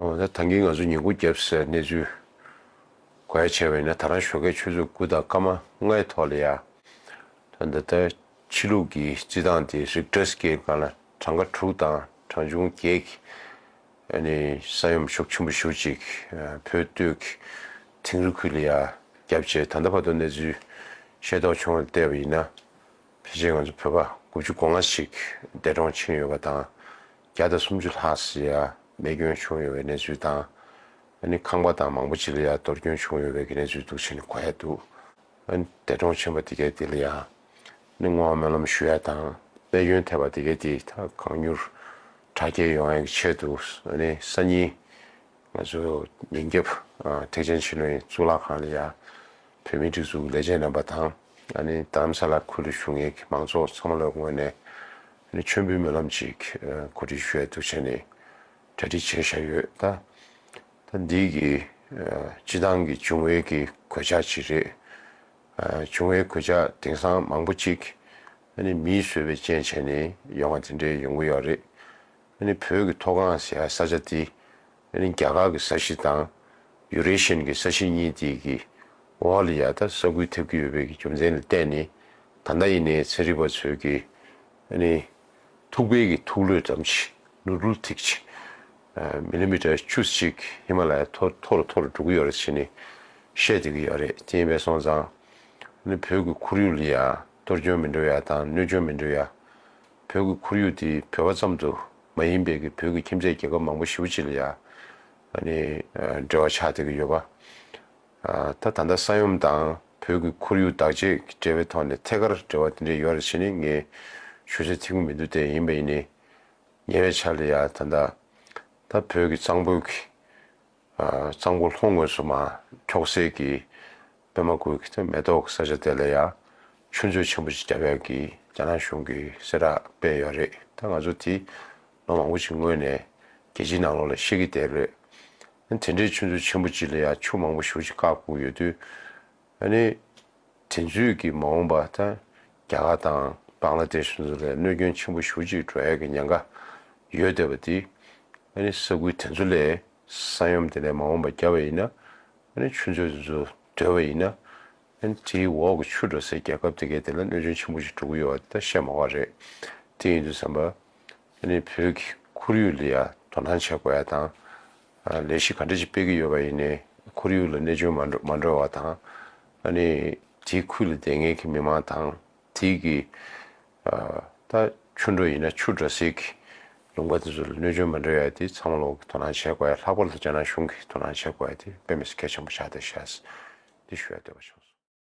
ད་ཐང་གིས་ང་ཚོ་ཉེན་ཁུག་བརྒྱབ་སའི་གནས་ཚུལ་གོ་ཡ་ཆེ་བ་ཡིན་ན་ད་རང་ཞོགས་ཁའི་ཆུ་ཚོད་དགུ་དང་སྐར་མ་ལྔའི་ཐོག་ལ་ཡ་ད་འདི་ལྟར་ཕྱི་ལུགས་ཀྱི་བརྩི་སྟངས་དེ་རིགས་སྒྲ་སྐད་སྒང་ལ་གྲངས་ཀ་དྲུག་དང་གྲངས་ཆུང་བརྒྱད་ཀྱི་ནི་ས་ཡོམ་ཤུགས་ཆེན་པོ་ཞུ་ཅིག་བོད་སྟོད་ཀྱི་དིང་རི་ཁུལ་ལ་ཡ་བརྒྱབ་རྗེས་ད་ལྟ་བར་དུ་གནས་ཚུལ་ཤེས་རྟོགས་བྱུང་བར་བལྟས་པ་ཡིན་ན་ཕལ་ཆེར་ང་ཚོ་བོད་པ་དགུ་བཅུ་གོ་ལྔ་ཞིག་འདས་གྲོངས་ཕྱིན་ཡོད་པ་དང་བརྒྱ་དང་སུམ་ཅུ་ལྷག་སི་ཡ་རྨས་སྐྱོན་བྱུང་ཡོད་པའི་གནས་ཚུལ་དང། ཨ་ནི་ཁང་པ་དང་མང་པོ་ཅི་ལ་ཡ་གཏོར་སྐྱོན་བྱུང་ཡོད་པའི་གནས་ཚུལ་འདུག་ཕྱི་ནས་གོ་ཡ་འདུག་ཨ་ནི་འདས་གྲོངས་ཕྱིན་པ་དེ་གའི་དེ་ལ་ཡ་ནི་ངོ་བོ་སྨོན་ལམ་ཞུ་ཡ་དང་རྨས་སྐྱོན་ཐེབས་པ་དེ་གའི་དེ་དང་གང་མྱུར་དྲག་སྐྱེལ་ཡོང་ཡ་གི་ཆེད་དུ་ཨ་ནི་སང་ཉིན་ང་ཚོ་ཉིན་རྒྱབ་ཨ་ཐེག་ཆེན་ཕྱི་ནོན་གཙུག་ལག་ཁང་ལ་ཡ་བོད་མིའི་སྒྲིག་འཛུགས་ལས་བྱེད་རྣམ་པ་དང། ང་ནི་དམ་ས་ལ་ཁུལ་དུ་བཞུགས་ངེད་མང་ཚོགས་ཚང་མ་ལ་ངོས་ནས་མཆོད་འབུལ་སྨོན་ལམ་ཅིག་གོ་སྒྲིག་ཞུ་ཡ་འདུག་བྱས་ནས་གྲ་སྒྲིག་བྱས་བཞག་ཡོད་ད། ད་འདི་གི་སྤྱི་བཏང་གི་བྱུང་བའི་གི་གོད་ཆག་ཅིག་རེད། བྱུང་བའི་གོད་ཆག་དེང་སང་མང་པོ་ཅིག་ནི་མིས་བཟོས་པའི་རྐྱེན་བྱས་ནས་ཡོང་བ་དེ་འདྲའི་ཡོང་གི་ཡོད་རེད། བོད་ཀྱི་མཐོ་སྒང་ཟེར་ས་ཆ་འདི་རྒྱ་གར་གྱི་ས་གཞི་དང་ཡུ་རེ་ཤན་གྱི་ས་གཞི་གཉིས་དེ་གི་འོག་ལ་ཡང་དག་ས་ཁུལ་ཐེབས་ཀྱི་ཡོད་པའི་རྒྱུ་མཚན་ལ་བརྟེན་ནས་ད་ལྟ་ཡིན་ནའི་ཚན་རིག་པ་ཚོས་ཀྱི་ཐུག་པའི་གྱི་ཐུག་ལོད་ཙམ་གྱི་ནུ་རུལ་ཐིག་ཅིག Millimeter བཅུ་གཅིག་ཧི་མ་ལ་ཡའི་མཐོ་མཐོ་རུ་མཐོ་རུ་འགྲོ་གི་ཡོད་རེད་ཅེས་ནས་བཤད་སྡོད་ཀྱི་ཡོད་རེད་དེ་ཡིན་པས་སོང་ཙང་བོད་ཀྱི་ཁོར་ཡུག་ལ་ཡང་གཏོར་སྐྱོན་མི་འགྲོ་ཡ་དང་གནོད་སྐྱོན་མི་འགྲོ་ཡ་བོད་ཀྱི་ཁོར་ཡུག་འདི་བོད་པ་ཙམ་དུ་མ་ཡིན་པའི་གི་བོད་ཀྱི་ཁྱིམ་མཚེས་རྒྱལ་ཁབ་མང་པོ་ཞི་བོ་ཅི་ལ་ཡང་འབྲེལ་བ་ཆགས་སྡོད་ཀྱི་ཡོད་པ། ད་ད་ལྟ་ས་ཡོམ་དང་བོད་ཀྱི་ཁོར་ཡུག་བདག་གཅེས་ཀྱི་འབྲེལ་བའི་ཐོག་ནས་ཐད་ཀར་འབྲེལ་བ་དེ་འདྲའི་ཡོད་རེད་བྱས་ནས་ངས་ཞུ་ཆ་ཐིག་གི་མི་འདུག་དེ་ཡིན་པ་ཡིན་ནི་ཉེ་བའི་ཆར་ལ་ཡང་ད་ད་ད་བོད་ཀྱི་གཙང་པོའི་གཙང་པོ་ལྷོ་ངོས་སུ་མ་འཁྱོག་སའི་གི་པདྨ་དགོན་གྱི་མེ་ཏོག་གི་ས་ཆ་དེ་ལ་ཡང་ཆུ་མཛོད་ཆེན་པོ་ཅིག་རྒྱ་བལ་གྱིས་རྒྱ་ནག་གཞུང་གིས་གསལ་བསྒྲགས་སྤེལ་ཡོད་རེད་ད་ང་ཚོ་དེ་ལོ་མང་པོ་ཅིག་སྔོན་ནས་རྒྱལ་སྤྱིའི་ནང་ལོགས་ལ་ཤེས་ཀྱི་བསྡད་རེད་ཨ་ནི་དེ་འདྲའི་ཆུ་མཛོད་ཆེན་པོ་ཅིག་ལ་ཡང་ཆུ་མང་པོ་ཞུགས་ཅིག་བཀག་བསྐུངས་ཡོད་དུས་ཨ་ནི་དེ་མཛོད་ཀྱི་མ་འོངས་པ་ད་རྒྱ་གར་དང་བང་ལ་དེ་ཤུ་ཚོ་ལས་གནོད་སྐྱོན་ཆེན་པོ་ཞུགས་ཅིག་འགྲོ་ཡ་གི་ཉེན་ཁ་ཡོད་བསྡད་པ་དེ་ཨ་ནི་ས་ཁུལ་དེ་ཚོ་ལས་ས་ཡོམ་དེ་ལས་མ་འོངས་པ་རྒྱ་བལ་ཡིན་ན་ནི་ཆུ་མཛོད་དེ་ཚོ་བསྒྲིལ་བ་ཡིན་ན། དེའི་འོག་གི་ཆུ་འགྲོ་སའི་རྒྱལ་ཁབ་དེ་གའི་དེ་ལ་གནོད་སྐྱོན་ཆེན་པོ་ཞིག་འགྲོ་གི་ཡོད་པ་དེ་ད་བཤད་མ་དགོས་རེད། དེ་ཡིན་དུས་བསམ་པ། དེ་ནི་བོད་ཀྱི་ཁོར་ཡུག་ལ་ཡང་དོ་སྣང་བྱེད་དགོས་ཡ་དང། ལས་གཞི་ག་འདྲ་ཞིག་སྤེལ་གྱི་ཡོད་པ་ཡིན་ནས་ཁོར་ཡུག་ལ་གནད་སྐྱོན་མ་འགྲོ་བ་དང། དེའི་ཁུལ་ལ་བསྡད་མཁན་གྱི་མི་མང་དང། དེ་གི། ད་ཆུ་འགྲོ་ཡིན་ན་ཆུ་འདྲ་ཟིག་གི། ལུང་པ་དེ་ཚོ་ལ་གནོད་སྐྱོན་མ་འདྲ་ཡོད་དེ་ཚང་མ་ལོག་གི་དོ་སྣང་བྱེད་དགོས་ཡ་ལྷག་པར་དུ་རྒྱ་ནག་གཞུང་གི་དོ་སྣང་བྱེད་དགོས་ཡ་དེ་དཔེ་མི་སི་གལ་ཆེན་པོ་ཆགས་འདུག་བཤད། འདི་ཞུ་ཡ་འདོད་པ་བྱུང་སོང།